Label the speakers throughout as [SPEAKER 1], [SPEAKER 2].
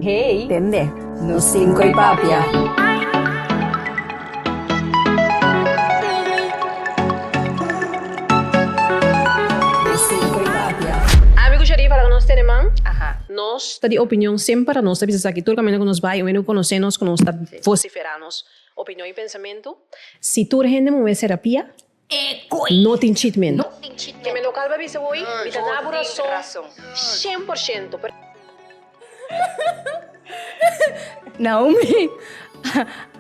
[SPEAKER 1] Hey. Tende. Nos cinco y papia. Nos ta di opinion semper a nos ta bisa sa ki tur caminda cu nos bay, un hende cu conoce nos cu nos ta vocifera nos opinion y pensamentu. Si tur hende muhe serapia, No tin chitmento. Ke me local ba bisa hoy, mi ta nabu rason shen por shento, pero. Naomi,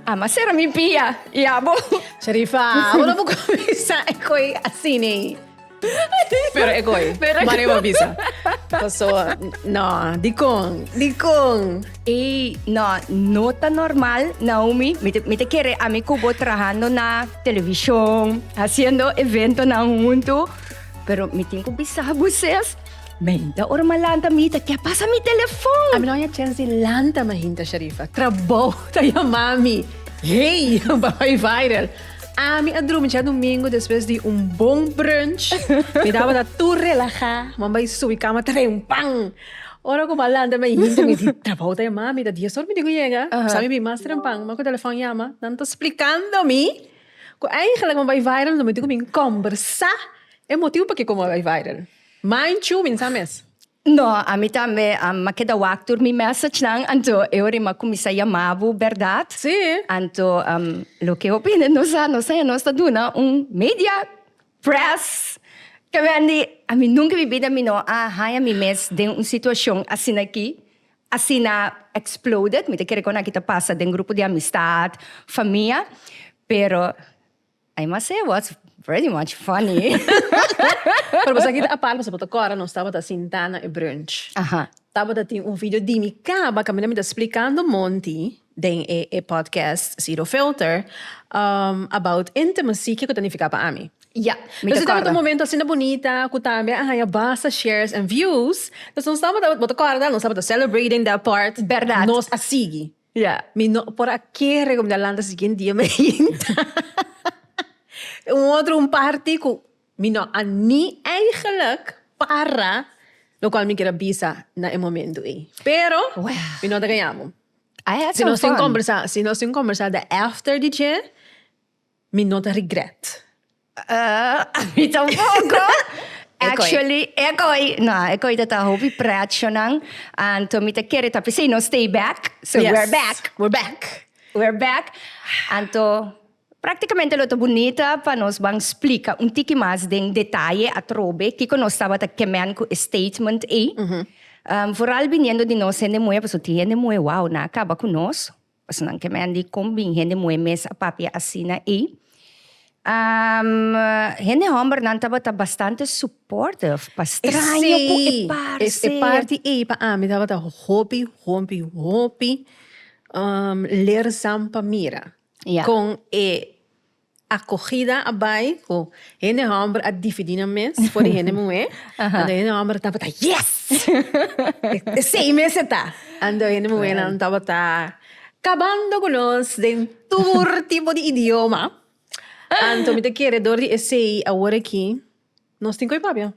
[SPEAKER 1] Ama sera mi pia, i abo? Sharifa, Abo no por cuminsa e coy así nee. Pero e coy, Maria ba bisa. Pasoa, No, dicon? Dicon? Ey, no, no ta normal, Naomi. Mi te, mi te kere a mi kubo trahando na televishon, haciendo evento na huntu. Pero mi tin ku bisa buses. Meinta ora ma lanta mi ta kia pasa mi telefon. A mi no ya chens di lanta mainta, Sharifa. Trabou ta yama mi. Hey, papay viral. Ami a drumi cha dumingu despues di un bon brunch. Mi tabata tur relaha. Mambay subi kama ta bay un pan. Ora ku Baal lanta mi hinter mi di trabou ta yama mi ta dies or mi di ku yega sa mi bin mas trempan man ku telefòn yama nan ta splikando mi ku eingelik mi bai viral lo mi di ku bin kombersá e motibu p'akiko mi a bai viral manchu bin sa mes. No a mi tambe a mi a keda wak tur mi message nan anto e ora mi a kuminsá yama bo bèrdat anto loke hopi hende nos a nos ta duna un media Press! Ta Wendy, ami nunca mi bida mi no a haña mi mes den un situacion asina aki, asina exploded, mi ta kere cu nan aki ta pasa den grupo di amistad, famia, pero I must say it was pretty much funny. Pero boso aki ta apart pasobra bo ta corda nos tabata sinta na e brunch, tabata tin un video di mi caba, caminda mi ta splicando Monty den e e podcast Zero Filter um about intimacy kico ta nifica pa ami. Ya. Mi ta corda. momento asina bonita cu tambe a haya basta shares and views. Pues nos tabata, bo ta corda, nos tabata celebrating that part. Berdad. Nos a sigui. Ya. Mi no por a kere cu mi ta lanta siguiente dia mi a yinta un otro un parti cu mi no a ni eigenlijk para locual mi kier a bisa na e momento ey. Pero mi no ta gayamo. I had some fun. Conversa, si nos tin conversa de after di dje, mi no ta regret. Uh, mi tampoco. Actually, ekoi. No, ekoi dat a hopi pretjonan. And to mi te kere tapi say no stay back. So yes. we're back. We're back. We're back. And to Práktikamente lo ta bunita pa nos ban splika un tiki mas den detaye atrobe kiko nos tabata ke mèn ku e statement ei, foral biniendo di nos hende muhé, pasobra tin hende muhé wou nan a kaba ku nos, pasobra nan ke mèn di kon bin hende muhé mes a papia asina ei. Hende hòmber nan tabata bastante supportive pa straño ku e par sey. E parti ei pa ami tabata hopi, hopi, hopi leerzaam pa mira. Ya. Con e acogida a bay cu hende homber a difidi nan mes for di hende muher. Aha. Anto hende homber tabata yes! Esey mes e ta! Anto hende muhernan tabata cabando cu nos den tur tipo di idioma. Anto mi ta kere dor di esey awor aki nos tin cu e papia.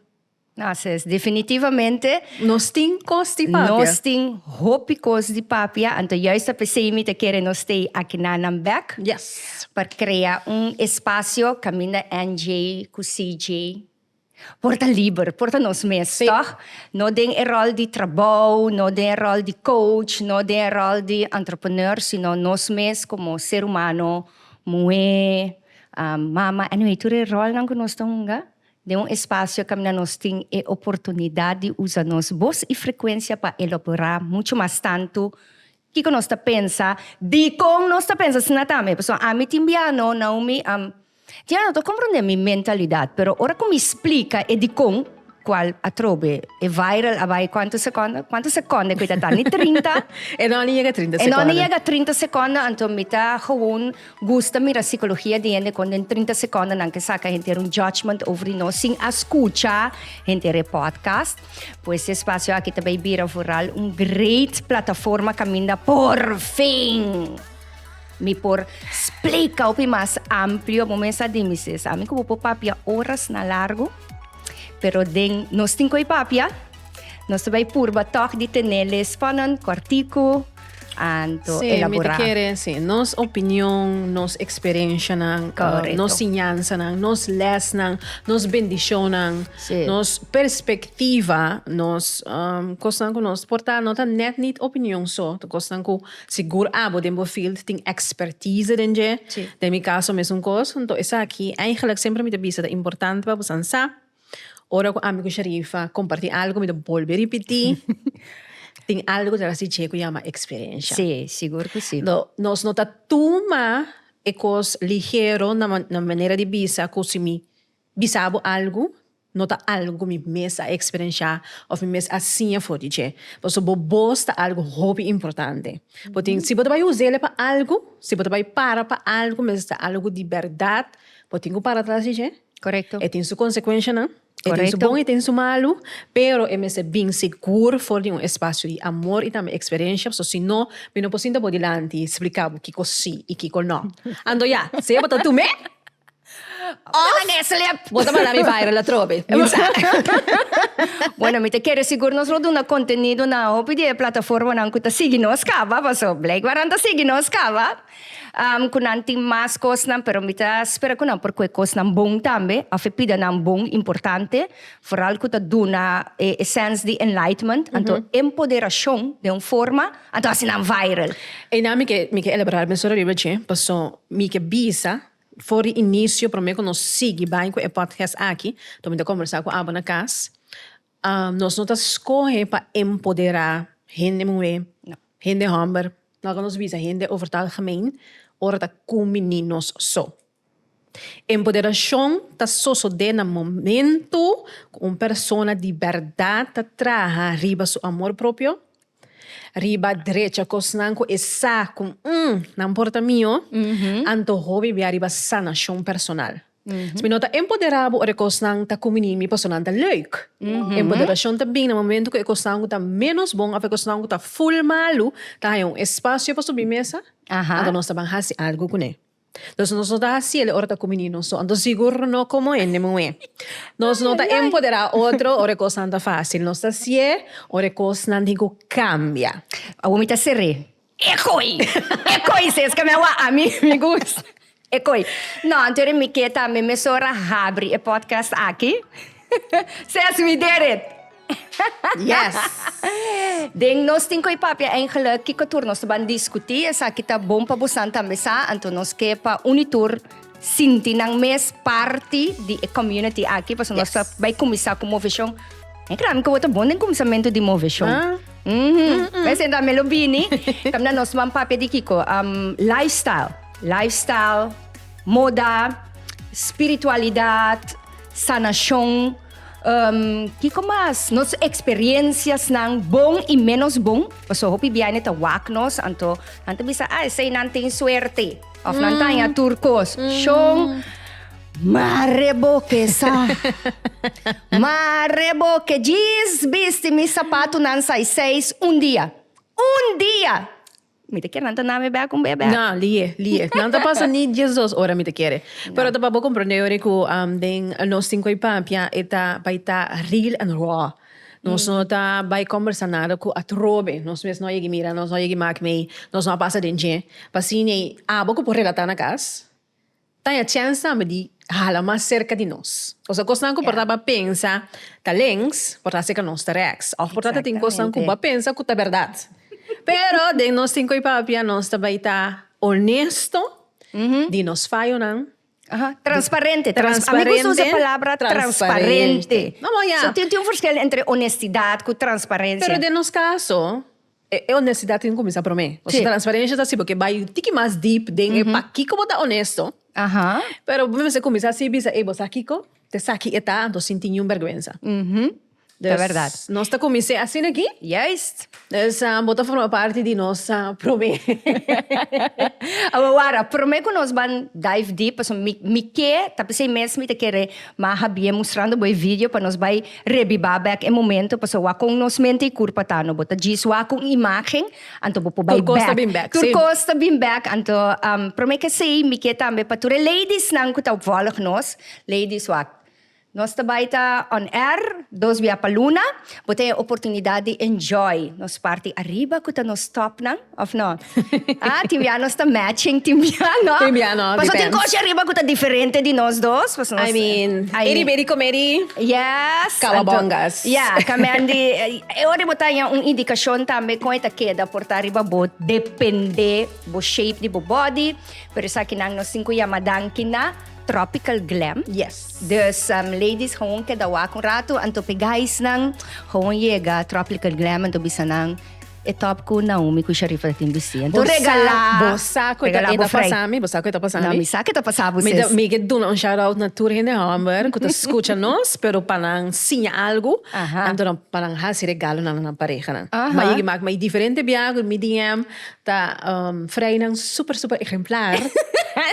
[SPEAKER 1] Así es, definitivamente. Nos tin cos di papia. Nos tin hopi cos di papia, anto juist ta p'esey mi ta kere nos stay aki na nan bek. Yes. Pa crea un espacio caminda NJ cu CJ por ta liber, por ta nos mes, tog? No den e rol di trabao, no den e rol di coach, no den e rol di entrepreneur, sino nos mes como ser humano, muhe, mama, anyway tur e rolnan cu nos ta hunga, Den un espasio kaminda nos tin e oportunidat di usa nos bos i frekuensia pa elaborá muchu mas tantu kiko nos ta pensa, dikon nos ta pensa asina tambe. Pasobra ami tin bia no, Naomi a tin anot'o komprondé mi mentalidat, pero ora ku mi splika e dikon, kual atrobe e viral a bai kuantu sekonda, kuantu sekonda ku e ta ta? Ni trinta? E no a yega trinta sekonda. E no a yega trinta sekonda, anto mi ta gewoon. Gusta mira sikologia di hende kon den trinta sekondenan ke saka henter un judgment over di nos sin a skucha henter e podcast. Pues e spasio aki ta bay bira vooral un great plataforma kaminda por fin mi por splika hopi mas amplio. Bo mes a di mi si esami ku bo por papia oras na largu, pero den nos tin koe papia, nos ta bay purba tog di tene les spannen, kortiku, anto elaborá. Sí, mi ta kere sí, nos opinion, nos eksperenshanan, nos siñansanan, nos lèsnan, nos bendishonnan, nos perspektiva, nos kosnan ku nos por ta, no ta nèt nit opinion so, ta kosnan ku sigur abo den bo field tin èkspertize den dje, den mi kaso mesun kos, nto esaki, eigelik semper mi ta bisa ta importante pa bosan sa. Ora cu ami cu Sharifa comparti algo mi ta bolbe ripiti tin algo tra si dje cu yama experiencia. Sí, sigur cu sí. No, nos no ta tuma e cos ligero na na manera di bisa cu si mi bisa bo algo no ta algo cu mi mes a experiencia of mi mes a siña for di dje. Pasobra bo bos ta algo hopi importante. Bo tin, si bo ta bay uzel pa algo, si bo ta bay para pa algo mester algo di berdad bo tin cu para atras di dje. Correcto. E tin su consecuencianan. Correcto. E tin su bon, e tin su malu. Pero e mester bin segur for di un espacio di amor y tambe experiencia, pasobra si no, mi no por sinta bo dilanti y splica bo kico si y kico no. Anto ya, sea bo ta tume of bo ta manda mi viral atrobe. Min sa. Bueno, mi ta kere sigur nos lo duna contenido na hopi di e plataformanan cu ta sigui nos caba, pasobra blijkbaar nan ta sigui nos caba. Ku nan tin mas kosnan, pero mi ta spera ku nan por kohe kosnan bon tambe, offe pida nan bon, importante, foral ku ta duna e sens di enlightenment, anto empoderashon den un forma, anto hasi nan viral. Einan mi ke mi ke elaborar mester ariba dje, paso mi ke bisa for di inicio prome ku nos sigui bai ku e podcast aki, to mi ta kombersá ku abo na kas, Nos no ta skohe pa empoderá hende muhé, hende hòmber, no ta nos bisa hende over ta algemeen ora ta ku mini nos so. Empoderashon ta sosodé na momento ku un persona di bèrdat ta traha riba su amor propio, riba drecha kosnan ku e sa ku, nan por ta mio, anto hopi bia riba sanashon personal. Si mi no ta empoderá bo ora e kosnan ta kuminí mi pasobra nan ta lèuk. Empoderashon ta bini na momentu ku e kosnan ku ta ménos bon òf e kosnan ku ta ful malu ta haña un espasio pa subi mesa, anto nos ta ban hasi algu kuné. Entonces nos no ta hasi el ora ta kuminí nos so, anto sigur no komo hende muhé. Nos no ta empoderá otro ora e kosnan ta fásil, nos ta hasié ora e kosnan tin ku kambia. Awor mi ta ser'é. E koi! E koi si es ka mi a wak, ami mi gusta e koi. No, anto di mi ke tambe mesora habri e podcast aki. Ses, we did it! Yes! Den nos tin koi papia eingelik kiko tur nos ta ban diskutí. Esaki ta bon pa bosan tambe sa, anto nos ke pa uni tur. Sinti nan mes parti di e community aki, paso nos ta bai kuminsá ku moveshon. Mi kila mi ku bo ta bon den kuminsamentu di moveshon. Mhm. Bai sentá mi lo bini, kaminda nos man papia di kiko? Am, lifestyle. Lifestyle, moda, spiritualidat, sanashon, em, kiko mas? Nos eksperensiasnan, bon i ménos bon, paso hopi biaño ta wak nos, anto nan ta bisa, ah, eseinan tin suerte. Of nan taña tur kos. Shon, mare bo ke sa. Mare bo ke djis bisti mi sapatunan sai seis un dia. Un dia! Mi ta kere nan ta na mi bek un be bek. Na, lie, lie. Nan ta pasa ni diesdos ora mi ta kere. Pero ta pa bo comprende yori cu den nos tin cu e papia e ta bay ta real and raw. Nos no ta bai kòmbersa nada ku atrobe. Nos mes no a yegi mira, nos no a yegi mak mei, nos no a pasa den dje. Pa asina ei abo ku por relatá na kas ta haña chèns tambe di hala mas serka di nos. Ku sa kosnan ku por tabata pensa ta lèns, por ta seka nos ta rèks òf por ta ta tin kosnan ku bo a pensa ku ta bèrdat. Pero den nos tin ku e papia nos ta bai ta onesto di nos fayonan Aha, transparente. Transparente. A mi gusta usa e palabra transparente. Amo ya. So tin, tin un forskel entre onestidad cu transparencia. Pero den nos caso, e, e onestidad tin cuminsa prome. Pasobra si. transparencia ta asina porque bay tiki mas deep den e pakico bo ta onesto. Aha. Pero bo mester cuminsa así bisa, ey, bo sa kico? Te sa ki e ta, anto sin tin niun bergwensa. Ta verdad. Dus nos ta kumins'é asina aki. Juist. Dus bo ta forma parti di nos promé. Awe wara, promé ku nos ban dive deep, pasobra mi mi ke ta p'esei mes mi ta kere maha bien mustrando bo e video pa nos bai rebibá bèk e momento, pasobra wak kon nos mente i kurpa ta no, bo ta djis wak ku un imágen, anto bo por bai bèk. Tur kos ta bin bèk, si. Tur kos ta bin bèk, anto promé k'esei mi ke tambe pa tur e ladiesnan ku ta vòlg nos, ladies wak. Nos ta bai ta on air dos bia pa luna, bo ta e oportunidad di enjoy nos parti ariba cu ta nos topnan, of no? Ah, tin bia nos ta matching, tin bia no. Tin bia no, Pasobra tin depends. cochi ariba cu ta diferente di nos dos, pues nos. I mean, I mean. edi bedi come di. Yes. Cowabongas. Anto, ya, camen di, e ora di bo ta haña un indicacion tambe con e ta keda por ta riba bo, depende bo shape di bo body, pero esakinan nos tin cu yama danki na. Tropical Glam. Yes. Dus um, ladies gewoon keda wak un rato, anto pe guys nan gewoon yega Tropical Glam, anto bisa nan e top ku Naomi ku Sharifa tin bisti. Anto regala, Bosa ko regala eta bofrei. pasami, bosa ko eta pasami. Na mi sa ke ta pasa bu Mi sis. da- mi ke duna un shout out na tur hende homber ku ta skucha nos, pero pa nan siña algu, Aha. anto nan pa nan hasi regalo na nan parehanan. Aha. Ma yegi mak ma i diferente bia ku mi DM, Ta frainan super super ehemplar.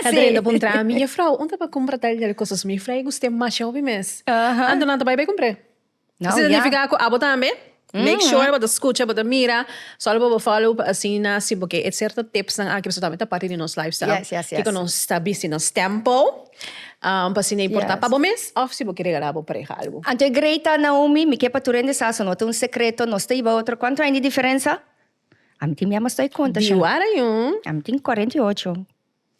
[SPEAKER 1] Ta drenta pa un traha, Mi jefrouw, un ta pa cumpra tal y tal cosas? Mi jefrouw, e gust'é mashao pi mes. Anto nan ta bay bay cumpr'é. Esaki ta significa cu abo tambe make sure bo ta scucha, bo ta mira, solo pa bo follow pa asina si bo ke e cierto tipsnan aki pasobra tambe ta parti di nos lifestyle kico nos ta bisti nos tempo pa asina e porta pa bo mes of si bo ke regala bo pareha algo. Anto e greita, Naomi, mi ke pa tur hende sa, so no ta un secreto, nos ta iba otro cuantra aña di diferensa. Ami tin mia mas doi konta sha. Di wara yon. Ami tin kwarenta i ocho.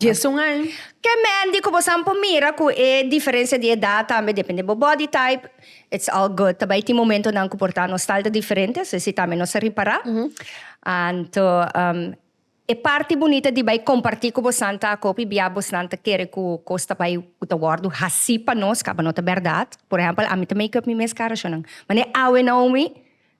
[SPEAKER 1] Dies un aña. Ke Mandy ku bosan por mira ku e diferensia di edat tambe depende bo body type, it's all good. Ta bai tin momentonan ku por ta nos style ta diferente, so esei tambe nos a ripará. Anto e parti bunita di bai kompartí ku bosan ta ku hopi bia bosnan ta kere ku kos ta bai ku ta wòrdu hasí pa nos, kaba no ta bèrdat. Por ehèmpel, ami ta make up mi mes kara ashonan. Mane awe Naomi.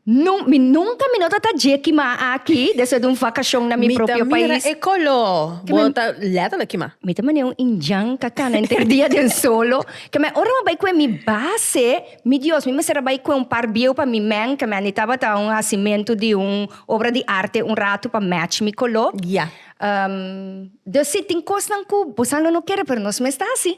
[SPEAKER 1] No, mi nunca mi no ta ta dje kima aki despues di un vacacion na mi Mi ta propio mira pais. e colo, Ke bo men- ta letterlijk kima. Mi ta mane un injan ka cana enter dia den solo. Ke men ora mi a bai kue mi base, mi Dios, mi mester a bai kue un par bieu pa mi men, ke men a ni tabata un hacimento di un obra di arte un ratu pa match mi colo. Ya. Ehm, dus si tin cosnan cu bo sa lo no kere pero nos mes ta haci.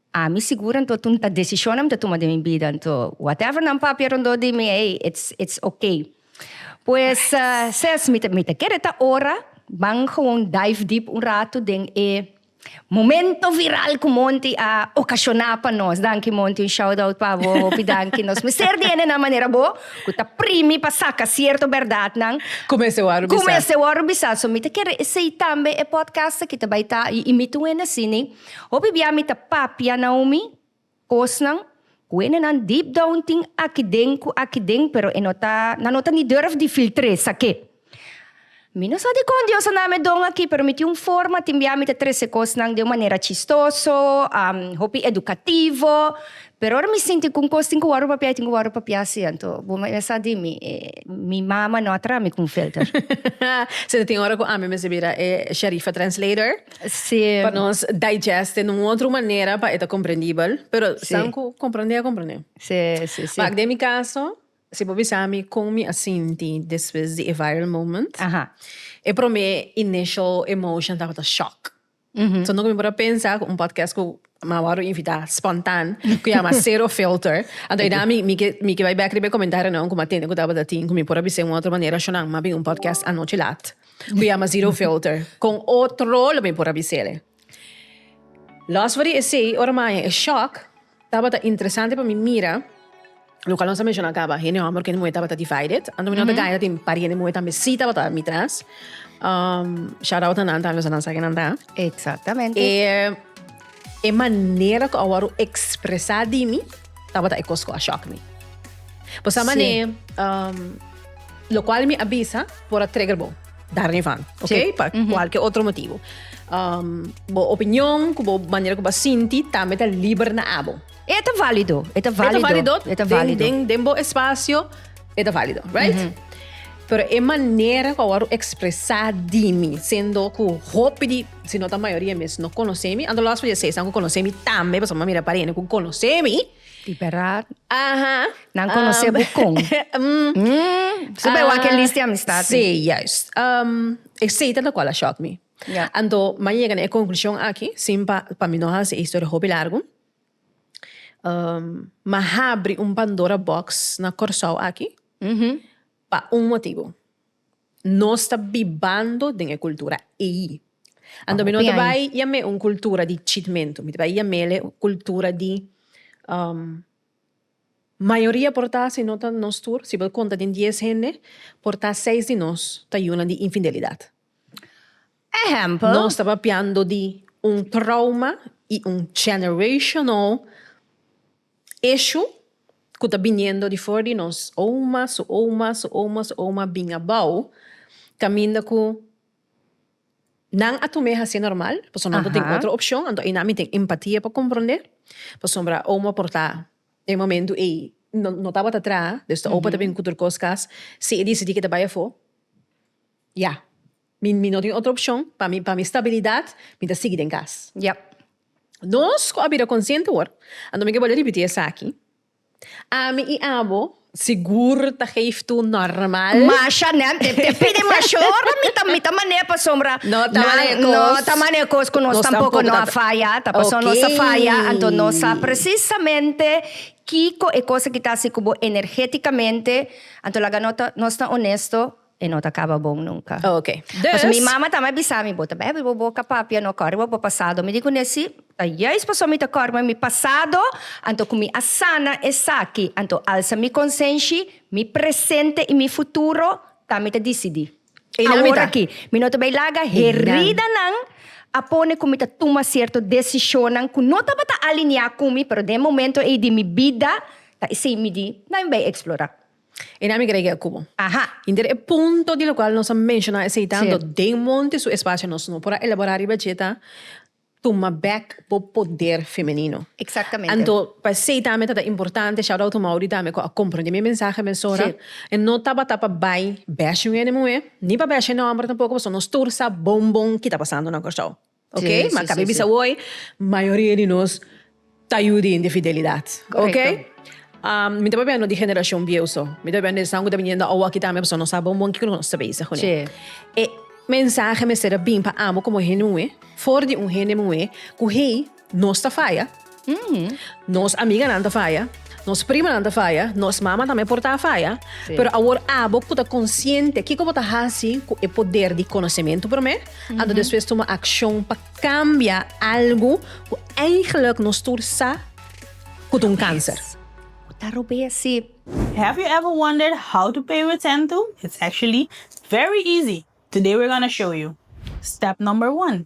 [SPEAKER 1] Ami sigur anto tu nta decision na mi ta tuma den mi bida anto whatever nan papia rondó di mi ey it's it's ok pues ses mi ta mi ta kere e ta ora ban gewoon dive deep un rato den e momento viral cu Monty a ocasiona pa nos danki Monty un shout out pa bo hopi danki nos mester di hende nan manera bo cu ta primi pa saca cierto berdad nan cu mester wor bisa cu mester wor bisa so mi ta kere esey tambe e podcast aki ta bay ta y y mi ta un hende asini. Hopi bia mi ta papia Naomi kosnan ku enenan deep down tin aki den ku aki den pero e no ta nan no ta ni durf di filtr'é sak'é. Mi no sa dikon Dios a na'me don aki pero mi tin un forma tin bia mi ta trese kosnan den un manera chistoso, hopi edukativo, Pero ora mi sinti cu un cos tin cu wordo papia y tin cu wordo papia siento bo mesa di mi e mi mama no a traha mi cu un filter. Si ta tin ora cu ami mester bira e Sharifa translator si pa nos digest den un otro manera pa e ta comprendibel pero san cu comprende a comprende si si si ma den mi caso si bo bisa mi con mi a sinti despues di e viral moment e prome initial emotion tabata shock So no mi por a pensa cu un podcast cu mi a wòrdu invitá spontan, cu yama Zero Filter. Anto eda mi mi ke mi ke bai bek riba e comentarinan cu mi a tende cu tabata tin cu mi por a bisa un otro manera ashonan mi a bin un podcast anochi laat cu yama Zero Filter. Con otro lo mi por a bis'ele. Los for di esey ora mi a haña e shock. Tabata interesante pa mi mira loke alonso a menshoná caba hende homber cu hende muher tabata divided anto mi no ta gana tin un par di hende muher tambe si tabata mi tras shout out na nan tambe pasobra nan sa kinan ta e manera cu a wor expresa di mi tabata e cos cu a shock mi pasobra locual mi a bisa por a trigger bo. Dar ni van, ok? Sí. Pa mm -hmm. cualquier otro motivo. Um, bo opinión, cu bo manera cu bo sinti, también ta liber na abo. Eta válido, eta válido. Eta válido, eta válido. Den, den, den bo espacio, eta válido, right? Mm -hmm. Pero e manera ku awor expresa di mi, sendo ku hopi di, si no ta mayoría mes, no conoce mi, ando las pa je seis, ku conoce mi tambe, pas ma mira para ene ku conoce mi, Di bèraad. Aha. Nan konosé bo kon? Su bay wak e lis di amistad. Sí, juist. E seta na kual a shòk mi. Ya. Anto mi a yega na e konklushon aki, sin pa pa mi no hasi e historia hopi largu. Mi a habri un Pandora box na Kòrsou aki. Pa un motibu. Nos ta bibando den e kultura ei. Anto mi no ta bai yam'é un kultura di chitmentu, mi ta bai yam'é un kultura di mayoria por ta, si no ta nos tur, si bo konta den dies hende, por ta seis di nos ta yunan di infidelidad. Ehempel. Nos ta papiando di un trauma i un generational issue ku ta biniendo di for di nos oma, su oma, su oma, su oma bin abou kaminda ku nan a tum'é hasié normal pasobra nan no tin otro opshon, anto einan mi tin empatia pa komprondé pasobra oma por ta den momentu ei no tabata traha, desde opa ta bin kuturkos kas si e disidí ku e ta bai afó ya. Mi mi no tin otro opcion. Pa mi pa mi stabilidad mi ta sigui den cas. Yep. Nos cu a bira consciente awor, anto mi ke bole ripiti esaki, ami y abo sigur ta geef tu normal. Masha nèt e te pidi masha ora mi ta mi ta manera pasobra No ta nan manera cos. no ta manera cos cu nos Nos tampoco tampoco no ta a ta. faya ta pasobra nos a faya anto nos sa Okay. precisamente kico e cos aki ta haci cu bo energeticamente anto laga no ta nos ta honesto E no ta caba bon nunca. Oh, ok. Dus. Pasobra mi mama ta me bisa mi, Bo ta bebe, bo boca papia no cor riba bo pasado. Mi di cu ne, Si, ta juist pasobra mi ta cor riba mi pasado, anto cu mi a sana esaki. Anto alsa mi consenshi, mi presente y mi futuro ta mi ta dicidi. Eynan mi ta. Awor aki. Mi no ta bay laga heridanan a pone cu mi ta tuma cierto decisionnan cu no tabata alinea cu mi, pero den momento ey di mi bida ta esey mi di, Nan mi bay explora. E nami grega e kubo. Aha! Hinter e punto di lokual nos a menshoná esei tantu den monte su espasio nos no por a elaborá riba dje ta tuma bèk bo poder femenino. Anto pa esei tambe ta ta importante Shout out to Mauri tambe ku a komprendé mi mensahe mesora e no tabata pa bai bèsh'e un hende muhé ni pa bèsh'e hende hòmber tampoko pasobra nos tur sa bon bon ki ta pasando na Kòrsou. Ok, ma kabe bisa woi, mayoria di nos ta yu di di fidelidad. Ok, mi ta papia no di generashon bieu so, mi ta papia no esaun ku ta bini yendo awo aki tambe, pasobra nos sa bon bon kiko nos ta bisa kuné. E mensahe mester a bin pa amo komo hende muhé, for di un hende muhé ku hei nos ta faya. Nos amiganan ta faya, nos primanan ta faya, nos mama tambe por ta faya. Sí. Pero awor abo ku ta konsiente kiko bo ta hasi ku e poder di konosementu promé, anto despues tuma akshon pa kambia algu ku eigentlik nos tur sa ku ta un kanser. Ku ta robesi. Have you ever wondered how to pay with Sentu? It's actually very easy! Today we're gonna show you! Step number one.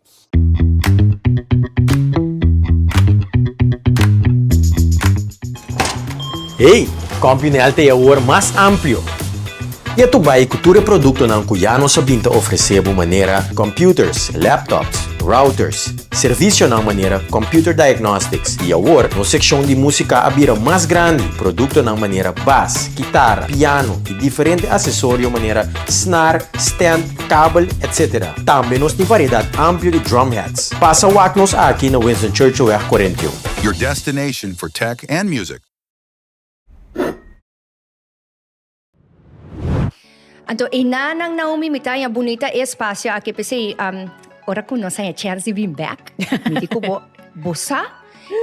[SPEAKER 1] Hey! Compyunel ta e awor mas amplio! Ya tu bay cu tur e productonan cu ya nos a bin ta ofrece bo manera computers, laptops, routers, servicionan manera computer diagnostics y awor nos seccion di musica a bira mas grandi, productonan manera bas, kitara, piano y diferente accesorio manera snar, stand, kabel, etc. Tambe nos tin variedad amplio di drum hats. Pasa wak nos aki na Winston Churchillweg cuarenta y un. Your destination for tech and music. Anto eina nan Naomi mi ta haña bunita e espacio aki p'esei ora cu nos haña Chelsea bin bek mi di cu bo bo sa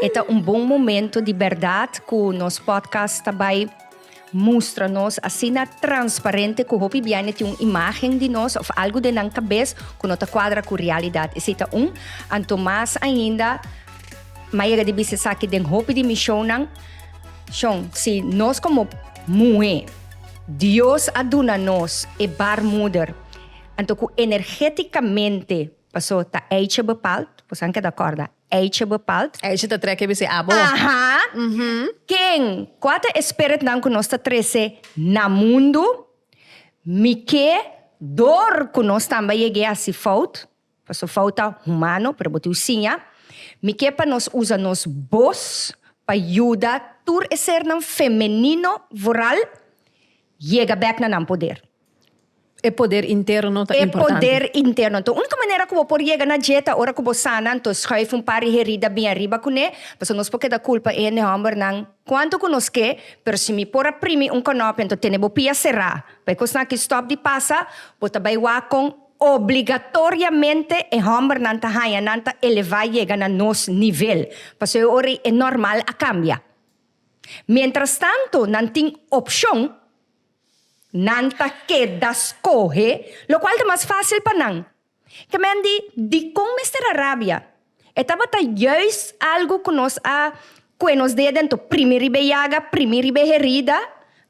[SPEAKER 1] e ta un bon momento di berdad cu nos podcast ta bay. Mustra nos asina transparente cu hopi biaña tin un imagen di nos of algu den nan cabes cu no ta cuadra cu realidad. Esey ta un. Anto mas ainda m'a yega di bisa esaki den hopi di mi shownan. Shon, si nos como muhe Dios a duna nos e baarmoeder, anto cu energeticamente, paso ta eitje bepaald, boso a keda corda, Eisje bepaalt. Eisje ta trèk e bis'é abo. Aha. Ken? Kua ta e spiritnan ku nos ta trese na mundu? Mik'é dor ku nos tambe a yeg'é hasi fout, pasobra fout ta humano, pero bo tiu siña. Mik'é pa nos usa nos bos pa yuda tur e sernan femenino voral yega bèk na nan poder? E poder interno ta importante. E poder interno ta único manera cu bo por yega na dje ta ora cu bo sana anto schuif un par di herida bien ariba cu ne pasobra nos por keda culpa e hende hombernan cuanto cu nos ke pero si mi por a primi un conopia anto tene bo pia cera pa e cosnan aki stop di pasa bo ta bay wak con obligatoriamente e hombernan ta haya nan ta eleva yega na nos nivel pasobra e ora y e normal a cambia mientras tanto nan tin opcion. Nan ta keda skohe lokual ta mas fásil pa nan. Kemen di dikon mester a rabia? E tabata juist algu ku nos a kue nos ded den to primi riba e yaga, primi riba e herida,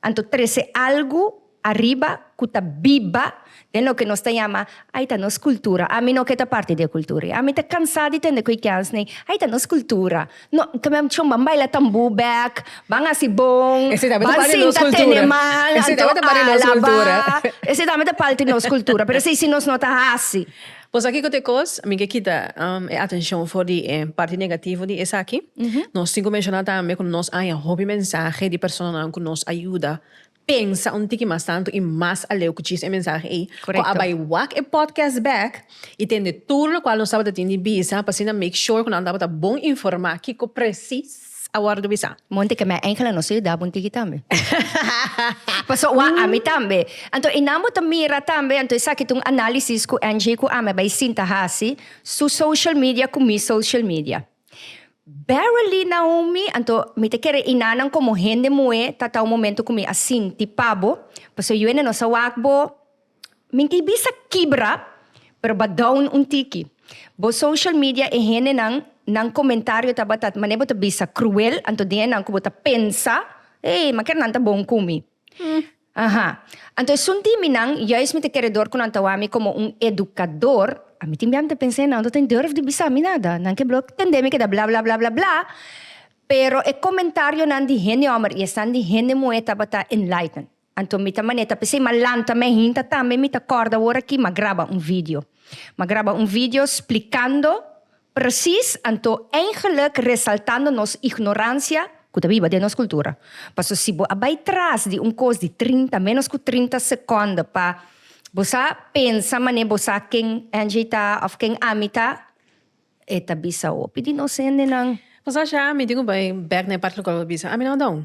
[SPEAKER 1] anto trese algu ariba ku ta biba Den loke nos ta yama, Ai ta nos cultura. Ami no ke ta parti di e cultura ya. Ami ta cansa di tende cu e kensne, Ai ta nos cultura. No, tambe anto ban baila tambú bek, ban haci bon, ban sinta tene man, anto alaba. Esei tambe ta parti di nos cultura, pero esei si nos no ta haci. Bo sa kico ta e cos? Mi ke kita e atencion for di e parti negativo di esaki. Nos tin cu menciona tambe cu nos haña hopi mensahe di personanan cu nos a yuda. pensa un tiki mas tantu i mas aleu ku djis e mensahe ei, ku a bai wak e podcast bek i tende tur lokual nos tabata tin di bisa pa asina make sure ku nan tabata bon informá kiko presis a wòrdu bisá. Monte ke mei Angela no sigue daba un tiki tambe. Paso ua ami tambe. Anto i nan bo ta mira tambe, anto esaki ta un análisis ku Angie ku ami a bai sinta hasi, su social media ku mi social media. Beverly, Naomi, anto mi ta kere i nanan komo hende muhé ta tau momento ku mi a sinti pa bo, pasobra yuende nos a wak bo minti bisa kibra, pero ba down un tiki. Bo social media e hendenan nan komentario tabata mané bo ta bisa kruel, anto den e nan ku bo ta pensa, Hey, ma ker nan ta bon ku mi. Aha. Anto esun di minan, juis mi ta kere dor ku nan ta wami komo un edukador, a mi tin bia mi ta pensa e nan no tin durf di bisa mi nada, nan ke blok tende mi keda bla bla bla bla bla, pero e komentarionan di hende hòmber i esnan di hende muhé tabata enlighten. Anto mi ta manera ta p'esei m'a lanta mei hinta tambe mi ta kòrda awor aki m'a graba un video, m'a graba un video splikando Precies, anto eingelijk resaltando nos ignorancia cu ta biba den nos cultura. Paso si bo a bay tras di un cos di trinta, menos cu trinta seconde pa bo sa pensa mane bo sa ken Angie ta of ken Ami ta, e ta bisa hopi di nos hendenan. Nos a share Ami tin cu bay bek na e parti local pa bisa Ami no a dao.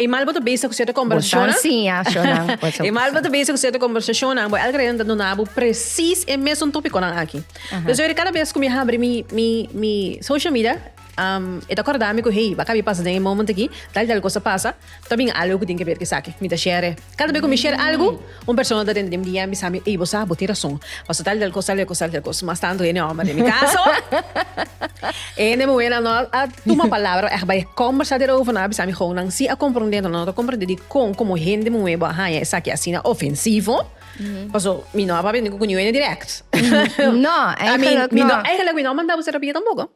[SPEAKER 1] E mal bo ta bezig ku sierto kombersashonnan. E mal bo ta bezig ku sierto kombersashonnan, bo elke reden ta duna bo presis e mesun topikonan aki. Pues oi kada bes ku mi habri mi mi mi social media, e ta kòrda mi ku hey, ba kabi pasa den e moment aki, tal i tal kos a pasa, ta bin algu ku tin ke ber ku esaki. Mi ta share. Kada be ku mi share algu. Un persona ta renta di mi dia en bisami, Ey, bo sa, bo tin rason. Paso tal y tal cos, tal y tal cos. Mas tanto hende homber den mi caso, e hende muhernan no a tuma palabra, echt bay a combersa derover, nan a bisa mi, Gow, nan si a comprende, enton nan no ta comprende dicon como hende muher bo a haya esaki asina ofensivo. Paso mi no a papia ningun cu niun hende direct. No, eigenlijk no. Eigenlijk mi no a manda bo terapia tampoco.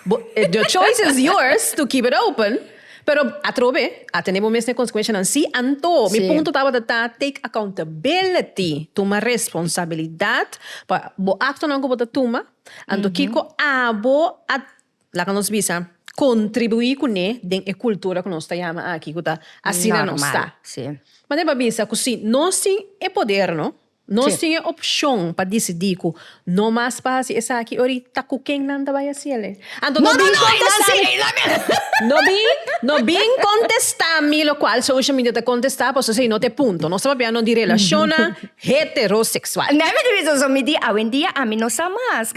[SPEAKER 1] Bo, the choice is yours to keep it open, pero atrobe a tene bo mes n'e consecuencianan si, anto mi punto tabata ta take accountability, tuma responsabilidad pa bo actonan cu bo ta tuma, anto kico abo a, laga nos bisa, contribui cu n'e den e cultura cu nos ta yama aki cu ta asina nos ta. Manda e pa bisa cu si nos tin e poder no. Nos tin e opshon pa disidí ku no mas pa hasi esaki ori ta ku ken nan ta bai hasi el. E. Anto no bin kontestá mi. No bin, no bin kontestá mi lokual social media ta kontestá paso esei no ta e punto. Nos ta papia no di relashonnan heteroseksual. Nèmi di bisa so mi di awendia ami no sa mas.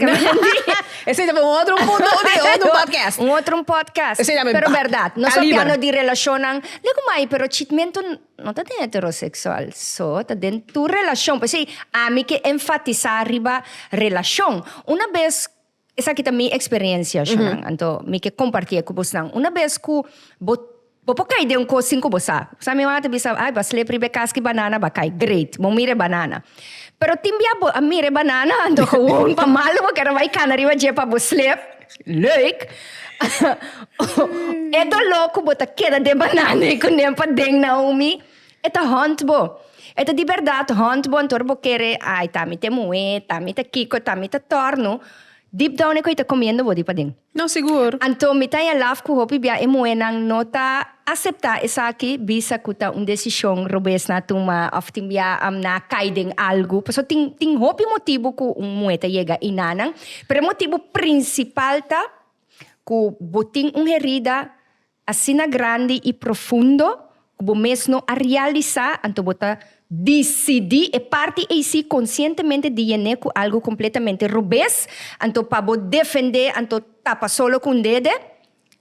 [SPEAKER 1] Esei ta for un otro punto di un otro podcast. Un otro podcast. Esei ta mi. Pero bèrdat. Nos ta papia no di relashonnan. Lei ku mai pero chitmentu. No ta den heteroseksual, so ta den tur relashon. P'esei ami ke enfatisá riba relashon. Una bes, esaki ta mi eksperiensianan, anto mi ke kompartié ku bosnan. Una bes ku bo, bo por kai den un kos sin ku bo sa. Bo sa mi mamá ta bisa, ai, bo a slepe riba e kas ku e banana bo a kai. Great, bo mira e banana. Pero tin bia bo a mira e banana, anto, gewoon pa malo bo kera bai kana riba dje pa bo slepe. Leuk! E doló ku bo ta keda den banana i ku nen paden Naomi, e ta hònt bo. E ta di bèrdat hònt bo anto bo kere, Ai, ta mi te muhé, ta mi ta kiko, ta mi ta tòrnu. Deep down e koi ta komiendo bo di paden. No, sigur. Anto mi ta yalaf ku hopi bia e muhénan no ta. aseptá esaki bisa ku ta un desishon robes na tuma òf tin bia am na kai den algu. Pasobra tin tin hopi motibu ku un muhé ta yega inanan, pero e motibu prinsipal ta ku bo tin un herida asina grandi i profundo ku bo mes no a realisá, anto bo ta disidí e parti ei sí konsientemente di yen'é ku algu kompletamente robes, anto pa bo defend'é anto tapa solo ku un dede,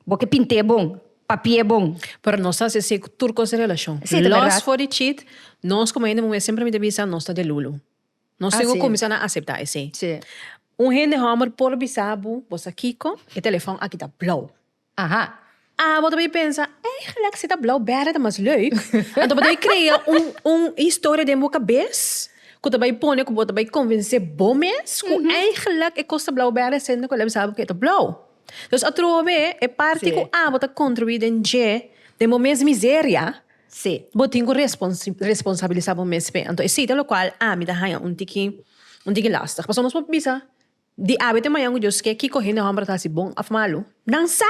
[SPEAKER 1] Bo ke pint'é bon, papi'é bon. Pero nos ta hasi así ku tur kos di relashon. Sí, ta berdad. Lòs for di chit, nos komo hende muhé semper mi ta bisa nos ta delulu. Nos tin ku kuminsá na aseptá esei. Sí. Un hende hòmber por bisa bo, bo sa kiko, e telefòn aki ta blou. Aha. A bo ta bin pensa, Eigenlijk si ta blou bède ta mas leuk. Anto bo ta bin krea un un historia den bo kabes ku ta bai pone ku bo ta bai konvensé bo mes ku eigenlijk e kos ta blou bède sende ku el a bisa bo ku e ta blou. Entonces atrobe e parti cu abo ta contribui den dje den bo mes miseria bo tin cu responsabilisa bo mes p'e. Anto esey ta locual ami ta haya un tiki un tiki lastig. Pasobra nos por bisa di awe te mañan cu Dios ke kico hende homber ta haci bon of malo? Nan sa!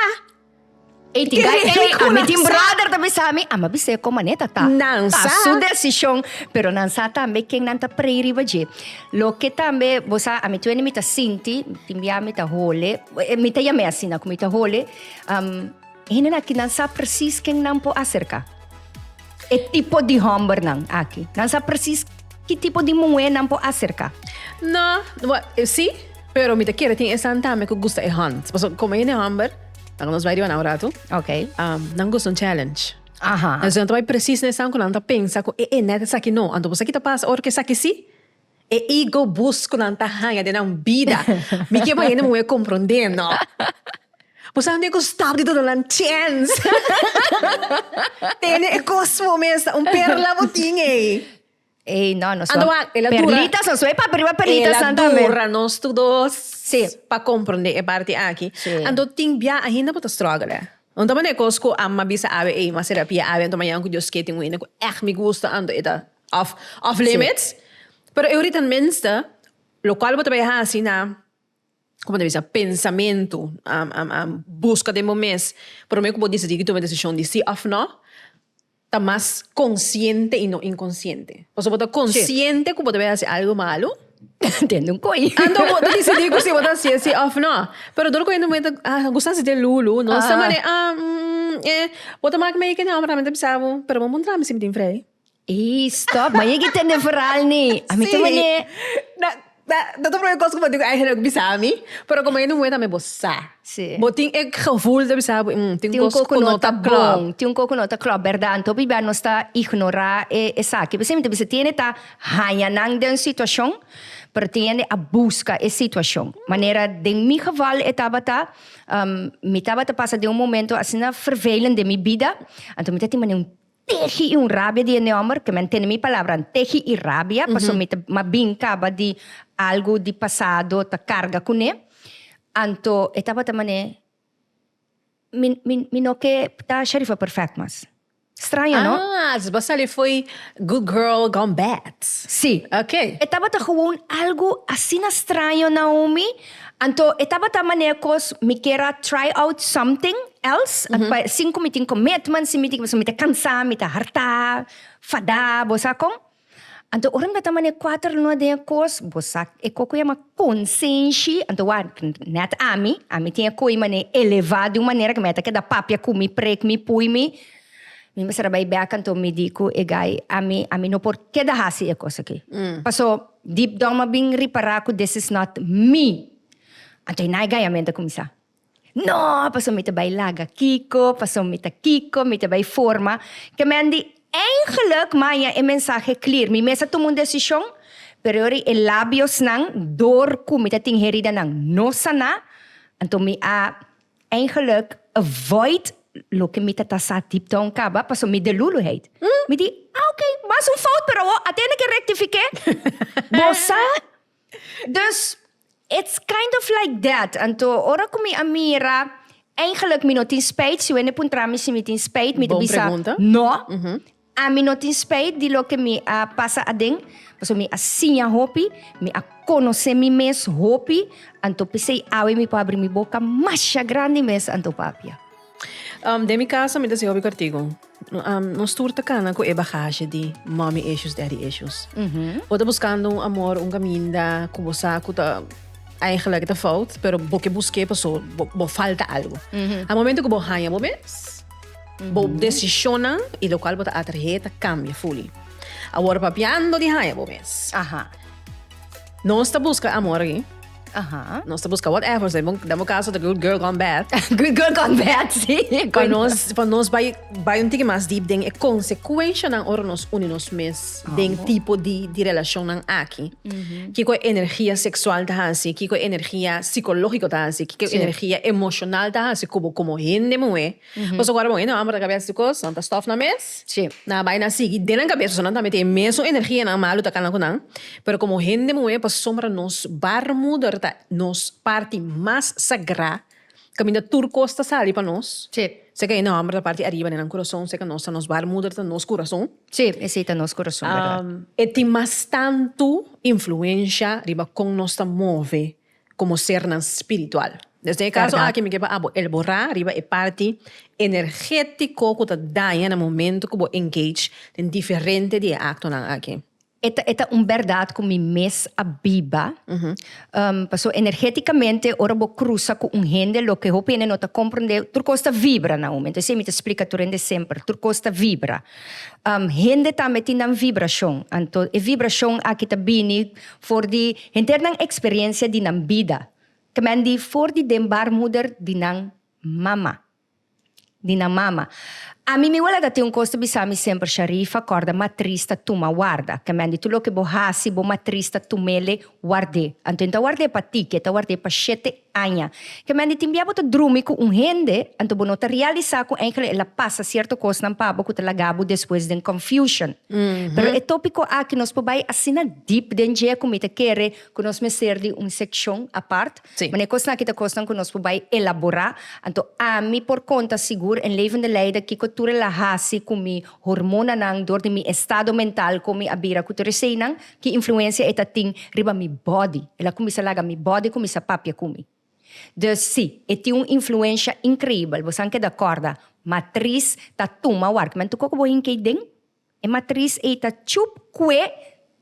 [SPEAKER 1] Ey tin guy ey a mi tin brother ta bisa mi a mi a bis'e con manera ta ta Nan ta sa. su decision pero nan sa tambe ken nan ta pray riba dje loke tambe bo sa a mi tuende mi ta sinti mi tin bia mi ta hole e mi ta yam'e asina cu mi ta hole am hende aki nan sa precies ken nan por acerca e tipo di homber nan aki nan sa precies ki tipo di muhe nan por acerca. No, si pero mi ta kere tin esan tambe cu gusta e hands pasobra como hende homber. Laga nos bai riba nan un ratu. Ok. Nan gusta un challenge. Aha. Entonces nan ta bai precies na esan cu nan ta pensa cu e e net esaki no. Anto esaki ta pasa ora cu esaki si. E ego boost cu nan ta haya den nan bida. Mi ke bai hende muher comprende no. Bo sa anto e cu stap di duna nan chance. Tene e cos bo mes ta un perla bo tin ey. Ey, no, nos Ando wak, el a dura. Perlitas, nos wey pa priba perlitas Ela tambe. dura nos tu dos Sí. pa comprende e parti aki. Sí. Anto tin bia ainda bo ta struggle. eh. Un ta mane cos cu Amma bisa Abe, ey, mas terapia Abe, anto mañana cu Dios kier tin un hende cu echt mi gusta, anto e ta off, off limits. Pero e ahorita al minste, locual bo ta bay haci na, como ta bisa, pensamento, am, am, am, busca den bo mes, prome cu bo decidi cu tuma e decision di si of no, ta mas konsiente i no inkonsiente. Pasobra bo ta konsiente ku bo ta bin hasi algu malu. Den un koi. Anto bo ta disidí ku si bo ta hasi e sí òf nò. Pero dor ku hende moe ta gusta hasi te lulu, no sa manera ah mm eh bo ta mak meike nau prami ta bisa bo pero bo mon traha mi sibi tin frei. Ei stòp, ma yega i tende verhal ni. Ami ta manera. Ta ta un primer cos cu bo tin cu Angela cu bisa mi, pero como e no moe tambe bo sa. Sí. Bo tin e gevoel ta bisa bo hmm tin un cos cu no ta club. Tin un cos cu no ta club, berdad. Anto biba nos ta ignora e esaki. Besey mi ta bisa tiene ta haña nan den un situacion, pero tiene a busca e situacion. Manera den mi geval e tabata mi tabata pasa den un momento asina vervelend den mi bida, anto mi ta tin manera un tehi i un rabia di e nòmber, ke men tene mi palabranan, tehi i rabia, pasobra mi ta mas bin kaba di algu di pasado ta karga kuné. Anto e tabata manera, mi, mi, mi no ke ta Sharifa perfèkt mas. Straño, no? Ah, dus bo sali fo'i good girl gone bad. Sí. Oké. E tabata gewoon algu asina straño, Naomi. Anto e tabata manera cos mi kier a try out something else, and pa sin cu mi tin commitment, sin mi tin, pasobra mi ta cansa, mi ta harta, fada, bo sa con. Anto ora mi tabata manera cuater luna den e cos, bo sa e cos cu yama consenshi, anto wak, net ami, ami tin e coy manera eleva di un manera cu mi a ta keda papia cu mi, pre cu mi, pui mi, mi mester a bay back, anto mi di cu e guy, ami, ami no por keda hasi e cos aki, paso. Deep Dom a bin ripará ku this is not me. Anto i naigayamento a kuminsá. No, paso mi ta bai laga kiko, paso mi ta kiko, mi ta bai forma kemendi. Eingeluk maña e mensahe clear, mi mes a tuma un desishon, pero yori e labiosnan dor ku mi ta tin herida nan no saná, anto mi a. Eigenlijk avoid loke mi ta ta sa deep down kaba paso mi de luluheid. Mi di, ah ok, was un fout pero awor a tene ke rectifique. Bo sa? Dus it's kind of like that. Anto ora ku mi a mira, eigenlijk mi no tin spijt, si wende puntra mi si mi tin spijt, mi ta Bon bisa pregunta. no. Ami no tin spijt di loke mi a pasa aden, pasobra mi a siña hopi, mi a konosé mi mes hopi, anto p'esei awe mi por habri mi boka masha grandi mes anto papia. Um, den mi casa mi ta haci hopi kartigo. Um, nos tur ta cana cu e bagaje di mommy issues, daddy issues. Bo ta buscando un amor, un caminda cu bo sa cu ta eigenlijk ta fout, pero bo ke busqué paso bo, bo falta algo. A momento cu bo haña bo mes, Bo desishonnan i lokual bo ta atrahé ta kambia fuli. Awor papiando di haña bo mes. Aha. Nos ta buska amor aki. Aha. Nos ta buska whatever, so den bo kaso ta good girl gone bad. Good girl gone bad, si. Pa nos, pa nos bai, bai un tiki mas deep den e konsekuenshanan ora nos uni nos mes den tipo di di relashonnan aki. Kiko e energia seksual ta hasi, kiko e energia sikológiko ta hasi, kiko e energia emoshonal ta hasi ku bo komo hende muhé. Pasobra ku awor e nan amber ta kabes di kos, nan ta stòf nan mes, nan a bai nan sigui den nan kabes pasobra nan tambe tin e mesun energia nan malu ta kal nan ku nan. Pero komo hende muhé pasobra nos baarmoeder ta nos parti mas sagrá kaminda tur kos ta sali pa nos, seka e nan amber ta parti ariba den nan kurason, seka nos ta nos baarmoeder ta nos kurason, e tin mas tantu influensha riba kon nos ta move. komo sernan spiritual. Desna e kaso aki mi ke pa abo elborá riba e parti energétiko ku ta daña na momentu ku bo engage den diferente di e aktonan aki. E ta e ta un bèrdat ku mi mes a biba, paso energétikamente ora bo krusa ku un hende loke hopi hende no ta komprendé, tur kos ta vibra na un momento. Esei mi ta splika tur hende semper, tur kos ta vibra. Hende tambe tin nan vibrashon, anto e vibrashon aki ta bini For di henter nan experiencia di nan bida, te men di for di den baarmoeder di nan mama, di nan mama. A mi mi wele ta tin un cos ta bisa mi semper, Sharifa, corda matriz ta tuma warda, te men di tur loke bo haci, bo matriz ta tumele warde, anto e no ta warde pa ti, ke ta warde pa shete Aña. Kemèn di timbiá bo ta drumi ku un hende, anto bo no ta realisá ku enkele el a pasa sierto kosnan pa bo ku ta laga bo despues den confusion. Pero e tópiko aki nos por bai asina dip den dje ku mi ta kere ku nos mester di un sekshon apart, man e kosnan aki ta kosnan ku nos por bai elaborá. Anto ami por konta sigur en Levende Leida kiko tur el a hasi ku mi hormonanan dor di mi estado mental kon mi a bira ku Teresenan, Ki influensia e ta tin riba mi bòdi? El a kuminsá laga mi bòdi kuminsá papia ku mi. Dus, sí, e tin un influensha inkreibel. Bosan keda kòrda, matris ta tuma wòrk. Mantu koko bo hinka ei den? E matris ei ta tjup kue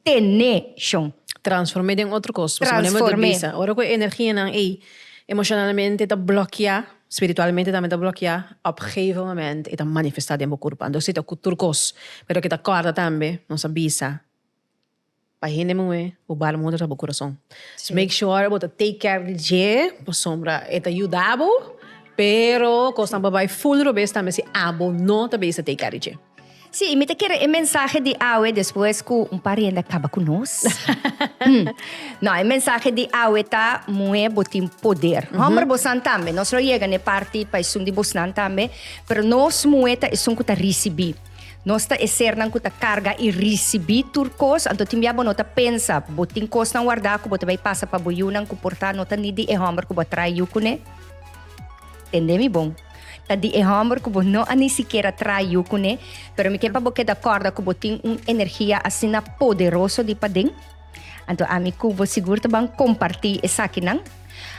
[SPEAKER 1] tene shon. Transform'é den otro kos. Boso manera bo ta bisa, ora ku e energianan ei emoshonalmente ta blokiá, spiritualmente tambe ta blokiá, òp geve moment e ta manifestá den bo kurpanan. Dus sí ta ku tur kos. Pero keda kòrda tambe, nos a bisa. Pa hende muhé bo baarmoeder ta bo kurason. So make sure bo ta take care di dje pasobra e ta yuda bo, pero kosnan por bai full robes tambe si abo no ta bisa take care di dje. Sí, y mi ta kere e mensahe di awe despues cu un par hende a caba cu nos. Hm. No, e mensahe di awe ta, muher bo tin poder. Homber bosnan tambe. Nos lo yega n'e parti pa esun di bosnan tambe, pero nos muher ta esun cu ta ricibi. Nos ta e sernan ku ta karga i risibí tur kos, anto tin bia bo no ta pensa bo tin kosnan wardá ku bo ta bai pasa pa bo yunan ku por ta no ta ni di e hòmber ku bo a traha yu kuné? Tende mi bon, ta di e hòmber ku bo no a ni sikiera traha yu kuné, pero mi ke pa bo keda kòrda ku bo tin un energia asina poderoso di paden. Anto ami ku bo sigur ta ban kompartí esakinan.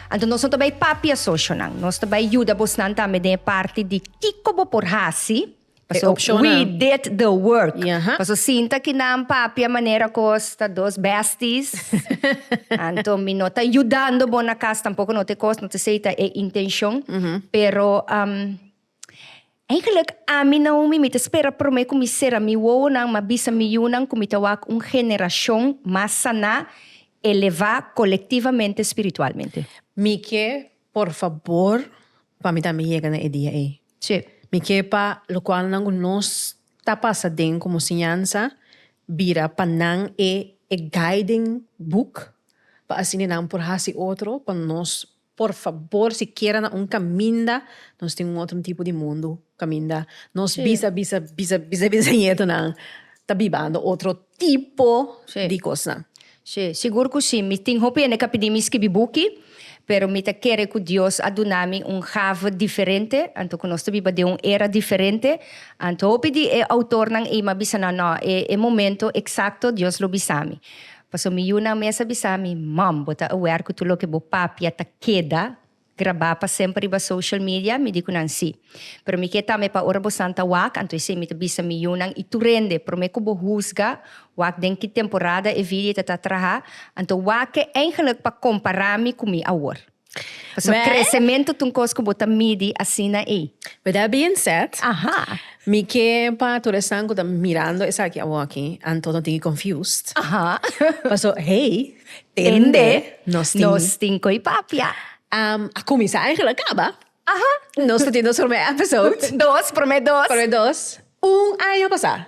[SPEAKER 1] Anto nos no ta bai papia socionan, nos ta bai yuda bosnan tambe den e parti di kiko bo por hasi. Paso we did the work. Paso sinta ki nan papia manera kos ta dos besties anto mi no ta yudando bo na kas tampoko no te kos no te sei ta e intenshon pero eigenlik ami Naomi mi ta spera prome ku mi sera mi wowonan ma bisa mi yunan ku mi ta wak un generashon mas saná elevá kolektivamente spiritualmente. Mi ke por fabor pa mi tambe yega na e dia ei. Tje, mi ke pa lokualnan ku nos ta pasa den komo siñansa bira pa nan e e guiding book pa asina nan por hasi otro pa nos por fabor sikiera na un kaminda nos tin un otro tipo di mundu kaminda nos bisa bisa bisa bisañetunan ta bibando otro tipo di kosnan. Sí, sigur ku sí. Mi tin hopi hende ku a pidi mi skibi buki, pero mi ta kere ku Dios a duna mi un gave diferente, anto ku nos ta biba den un era diferente. Anto hopi di e outornan ei mi a bisa nan, No, e e momento eksakto Dios lo bisa mi. Pasobra mi yunan mes a bisa mi, Mom, bo ta aware ku tur loke bo papia ta keda? Grabá pa semper riba social media? Mi di ku nan sí. Pero mi ke tambe pa ora bo santa wak, anto esei mi ta bisa mi yunan i tur hende, promé ku bo husga, wak den ki temporada e vidia ta ta traha, anto wak ke eingelek pa kompará mi ku mi awor. Pasobra kresementu ta un kos ku bo ta midi asina ei. With that being said, mi ke pa tur esnan ku ta mirando esaki awor aki, anto no tigi confused, paso hey! Tende, nos tin. Nos tin koe papia. Um, a kuminsá en gela kaba. Aha. Nos ta tin nos promé episode. Dos, promé dos. Promé dos. Un aña pasá.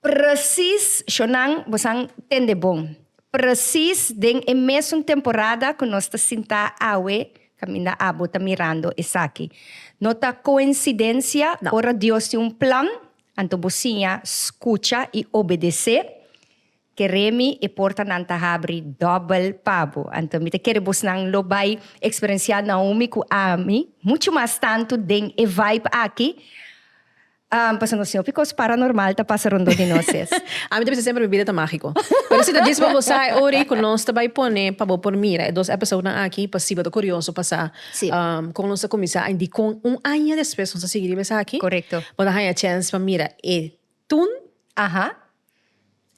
[SPEAKER 1] Presis, shonan, bosan tende bon. Presis den e mesun temporada ku nos ta sintá awe kaminda abo ta mirando esaki. No ta koensidensia, ora Dios tin un plan, anto bo siña skucha i obedesé. Keremi e portanan ta habri dòbel pa bo. Anto mi ta kere bosnan lo bai eksperensiá Naomi ku ami muchu mas tantu den e vibe aki, pasobra nos tin hopi kos paranormal ta pasa rondó di nos es. Ami ta bisa semper mi bida ta mágiko. Pero si ta djis pa bo sa e ora ei ku nos ta bai pone pa bo por mira e dos èpisoudnan aki pa si bo ta kurioso pa sa kon nos ta kuminsá i dikon un aña despues nos ta sigui riba esaki, bo ta haña chèns pa mira e tun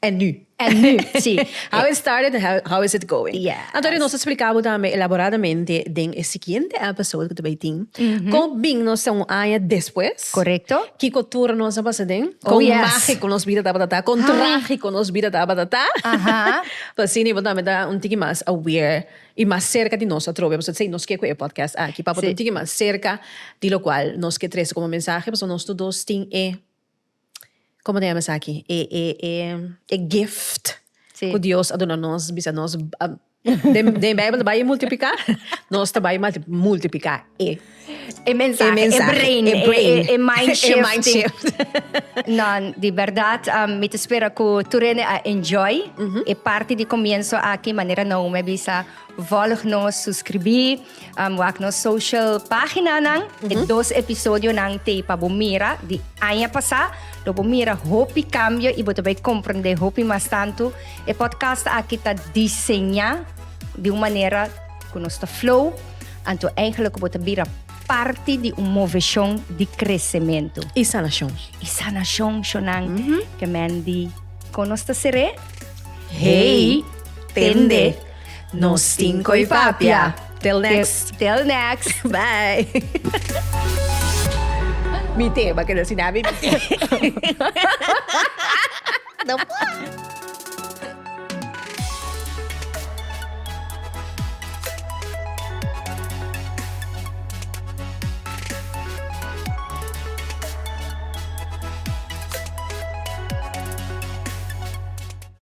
[SPEAKER 1] En nu. En nu, si. How it started and how, how is it going. Yes. Anto ri nos a spliká bo tambe elaboradamente den e siguiente episode ku ta bai tin, kon bini nos ta un aña despues. Korekto. Kiko tur nos a pasa den. Oh, yes. Kon mágiko nos bida tabata ta, kon trágiko nos bida tabata ta. Aha. Pa asina bo tambe ta un tiki mas aware i mas serka di nos atrobe. Pasobra esei nos ke ku e podcast aki, pa bo ta un tiki mas serka di lokual nos ke trese komo mensahe, pasobra nos tur dos tin e como ta yama esaki e e e e gift si cu dios a duna nos bisa nos den den bijbel ta bay multiplica nos ta bay multiplica e e mensahe e mensahe e brain e brain e, e, e mind shift e mind shift nan di berdad um, mi ta spera cu turene a enjoy mm -hmm. e parti di comienzo aki manera Naomi bisa volg nos suscribi um, wak nos social paginanan. Mm -hmm. E dos episodionan te pa bo mira di aña pasá. Lo bo mira hopi cambio y bo te bay comprende hopi mas tanto. E podcast aki ta diseñá di un manera ku nos ta flow. Anto eigenlijk bo te bira parte di un moveshon di crecemento. Y sanacion. Y sanacion, shonan, mm -hmm. ke men di konos ta seré. Hey, tende. Nos tin cu y papia. Till next. Till next. Bye. Mi tema que no si nada mi tema. no puedo.